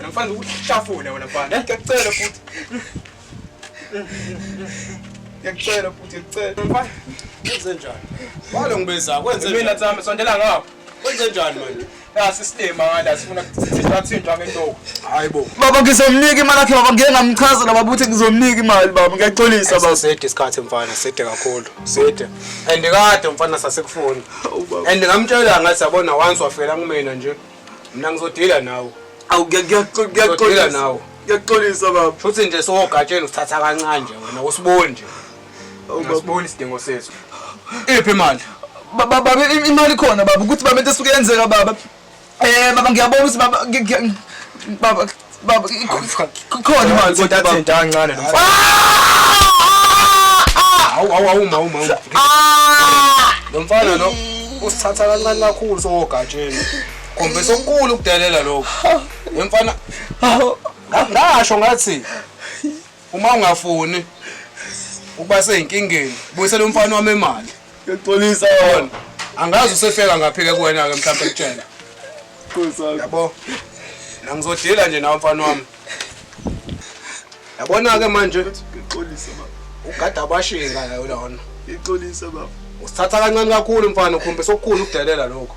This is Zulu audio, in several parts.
Namfana ukuhlafuna wena mfana. Ngiyacela futhi. Ngiyacela futhi ngicela. Mfana wenze njani? Walo ngibeza kwenze mina tsami sondela ngapha. Wenze njani manje? Nasi silima ngala sifuna kuthintwa thintwa ngentoku. Hayibo. Baba ngizomnika imali yakhe baba ngeke ngamchaza la baba uthi ngizomnika imali baba ngiyaxolisa baba. Sede isikhathi mfana sede kakhulu. Sede. And kade mfana sasekufuni. And ngamtshela ngathi yabona once wafela kumina nje. Mina ngizodila nawe. Awu ngiyaxolisa nawe. Ngiyaxolisa baba. Futhi nje sowogatsheni usithatha kancane nje wena usiboni nje. Awubaboni isidingo sethu. Iphi imali? Baba baba imali khona baba ukuthi baba into esuke yenzeka baba. Eh baba ngiyabona ukuthi baba baba Baba ikhona imali kodwa baba. Athenda kancane nomfana. Awu awu awu mawu mawu. Lo mfana lo usithatha kancane kakhulu sogatsheni. Khombisa okukhulu ukudelela lokho. Lo mfana ngasho ngathi Uma ungafuni ukuba seyinkingeni, buyisela umfana wami imali. Ngiyaxolisa wona. Angazi usehleka ngaphi ke kuwena ke mhlawumbe ekutshela. Nkosi yami. Yabo. Mina ngizodila nje nawe mfana wami. Yabona ke manje Ngixolisa baba. ugada abashinga la lona. Ngixolisa baba. Usithatha kancane kakhulu mfana ukhombisa okukhulu ukudelela lokho.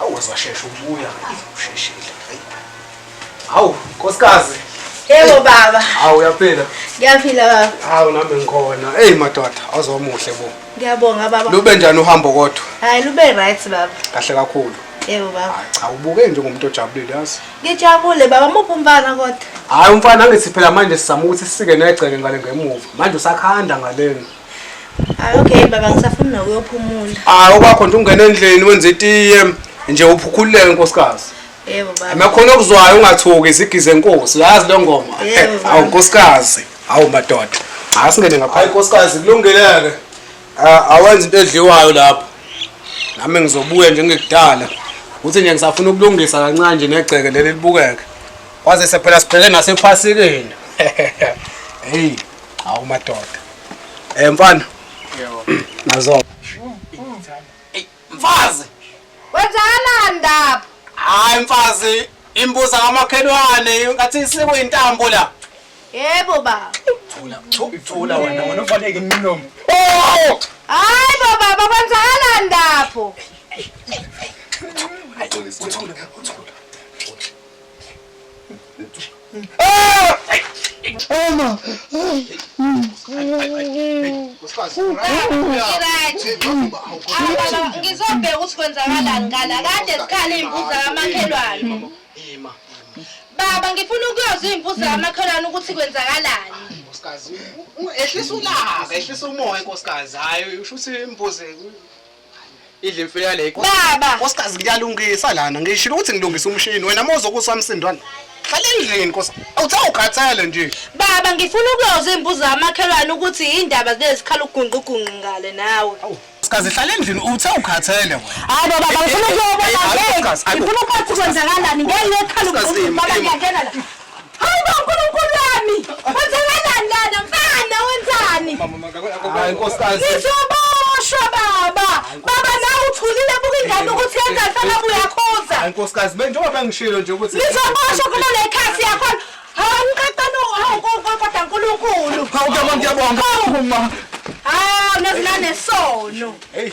Awu waze washesha ukubuya. Usheshile. Hayi. Hawu, nkosikazi. Yebo baba. Hawu uyaphila. Ngiyaphila baba. Hawu nami ngikhona. Hey madoda, azomuhle bo. Ngiyabonga baba. Lube njani uhambo kodwa? Hayi lube right baba. Kahle kakhulu. Yebo baba. Cha ubuke nje ngomuntu ojabulile yazi. Ngijabule baba muphi umfana kodwa? Hayi umfana angithi phela manje sizama ukuthi sisike negceke ngale ngemuva. Manje usakhanda ngaleni. Hayi okay baba ngisafuna nokuyophumula. Hayi okwakho nje ungena endlini wenze itiye nje uphukhuleke nkosikazi. Yebo baba. Amakhona okuzwayo ungathuki isigize inkosi. Uyazi le ngoma. Yebo, baba. Awu nkosikazi. Awu madoda. Hayi singene ngapha. Hayi nkosikazi kulungeleke. Ah, Awenza into edliwayo lapho. Nami ngizobuya nje ngekudala. Uthi nje ngisafuna ukulungisa kancane nje negceke leli libukeke. Kwaze sephela siphele nasephasikeni. Hey. Hawu madoda. Eh mfana. Yebo. Nazo. Mfazi. Wenzana ndaba. Hayi mfazi, imbuza kamakhelwane ngathi isiko intambo la. Yebo baba. Thula, thula wena, wena ufaneke imilomo. Oh! Hayi bo baba kwenzakala ndapho. Hayi, uthula, uthula. Ama. Ngizobheka ukuthi kwenzakalani ngala kade sikhala iy'mbuzi zakamakhelwane. Baba ngifuna ukuyozwa iy'mbuzi zakamakhelwane ukuthi kwenzakalani. Nkosikazi, ehlisa ulaka, ehlisa umoya nkosikazi. Hayi usho ukuthi imbuzi idla imfene yale baba nkosikazi ngiyalungisa lana ngishilo ukuthi ngilungisa umshini wena uma uzokusa msindwana hlala endlini nkosi awuthe ukhathele nje baba ngifuna ukuyoza iy'mbuzo amakhelwane ukuthi yindaba zilezikhala ugungqugungqi ngale nawe Kazi hlala endlini uthe ukhathele wena. Hayi baba ngifuna ukuyobona ngeke. Ngifuna ukwazi kwenzakalani ngeke ngekhala ukuthi baba ngiyangena la. Ngizoboshwa baba. Baba nawe uthulile buka ingane ukuthi yenza mfana uyakhuza. Hayi nkosikazi mina njengoba bengishilo nje ukuthi Ngizoboshwa kulo lekhasi yakho. Hawu ngiqaqana hawu kodwa uNkulunkulu. Hawu kuyabonga kuyabonga. Uma. Hawu nezilane sono. Hey.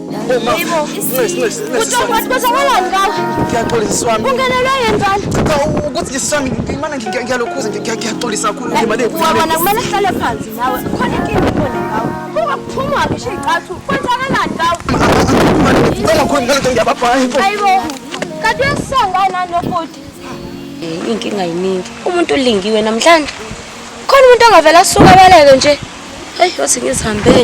inkinga yiningi umuntu ulingiwe namhlanje khona umuntu angavele asuke abaleke nje heyi yothi ngizihambele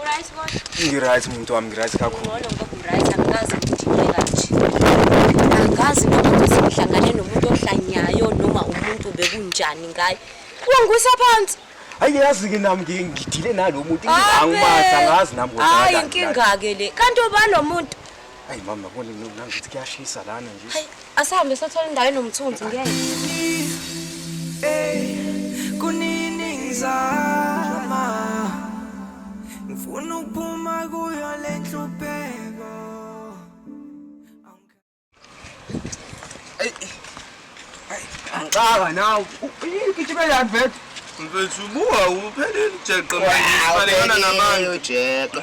Uright kodwa? Ngiright muntu wami ngiright kakhulu. Ngcono ngoba uright angikaze ngidinwe kanje. Angikaze ngibe sengihlangane nomuntu ohlanyayo noma umuntu bekunjani ngaye. Wangisa phansi. Hayi yazi ke nami ngi- ngidile nalo muntu Abe. angimazi angazi nami ukuthi Hayi akakani. inkinga ke le. Kanti ubani lo muntu? Hayi mama yabona mina ngithi kuyashisa lana nje. Hayi asahambe sothola indawo enomthunzi ngeke. Hey kunini ngizama ngifuna ukuphuma kuyo le nhlupheko. Angixaka nawe. Igijima yani vele. Mfethu buka uphelile ujeqe manje ufanekana nabantu. Ujeqe.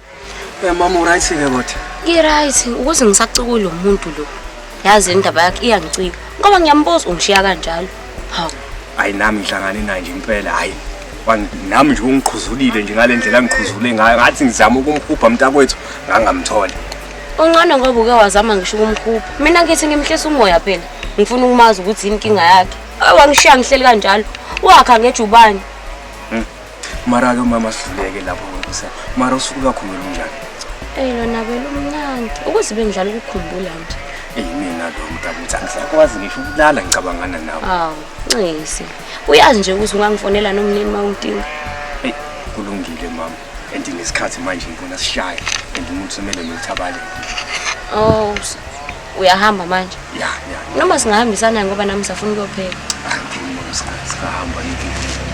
Eh mama uright ke kodwa. Ngiright ukuthi ngisacikulo lo muntu lo. Yazi indaba yakhe iyangicika. Ngoba ngiyambuza ungishiya kanjalo. Hawu. Hayi nami ngihlangane naye nje impela hayi. Nami nje ungiqhuzulile nje ngalendlela ngiqhuzule ngayo ngathi ngizama ukumhubha mntakwethu ngangamtholi. Ungcono ngoba uke wazama ngisho ukumhubha. Mina ngithi ngimhlisa umoya phela. Ngifuna ukumazi ukuthi yini inkinga yakhe. Wangishiya ngihleli kanjalo. Wakha ngejubane. mara-ke umama sidluleke lapho nkosi yami mara usuke ukakhumula unjani eyi lona belumnandi ukuze bengidlala ukukhumbula nje eyi mina lo mntakuthi angisakwazi ngisho ukulala ngicabangana nawe hawu nxisi uyazi nje ukuthi ungangifonela nomnini uma ungidinga eyi kulungile mama and nesikhathi manje ngibona sishaye and umuntu semele nothabale oh s- uyahamba manje ya ya noma singahambisana ngoba nami safuna ukuyopheka hayi ngiyomama singahamba yini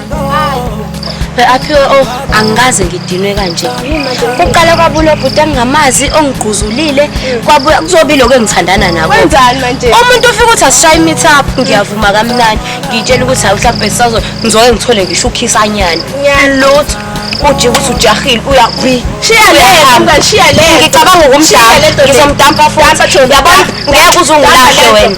aphiwe o oh, angikaze ngidinwe kanje kuqala kwabulo bhuti engingamazi ongigquzulile kwabuya kuzobi lokho engithandana nako umuntu ufika ukuthi asishaye imithi apho ngiyavuma kamnani ngiyitshela ukuthi hayi mhlawumbe sisazo ngizoke ngithole ngisho ukhisanyana lutho uthi ukuthi ujahile uyakwi shiya le hamba shiya le ngicabanga ukumdala ngizomdampa futhi yabona ngeke uzungulahle wena